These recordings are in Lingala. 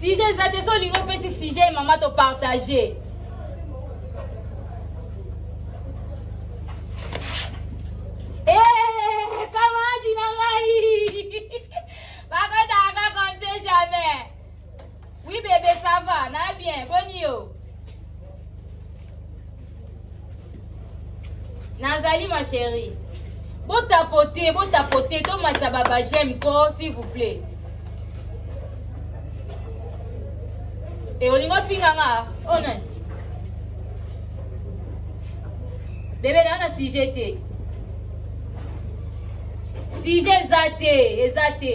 sujet eza te so olingi opesi sujet mama topartage Oui bebe ça va na bien boni yo nazali ma chérie botapote botapote tomatisa baba j'aime ko s'il vous plaît e olingi ofinga nga oyo oh, nani bebe naa na sujet te sujet eza te eza te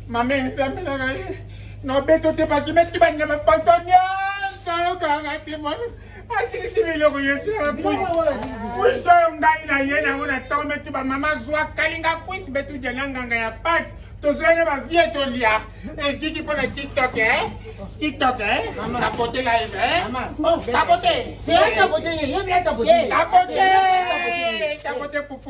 Mame nzambe na ngai nobeto te bakimaki banyama poto nyonso yokanga te mwana asilisi biloko yesu akuisa yo ngai na ye nango na ntongo meti bamama zwa kalinga kuisi betu dia na nganga ya pati tozwai na bavie tolia eziki mpo na tiktok e tiktok e tapote live e tapote tapote tapote pupu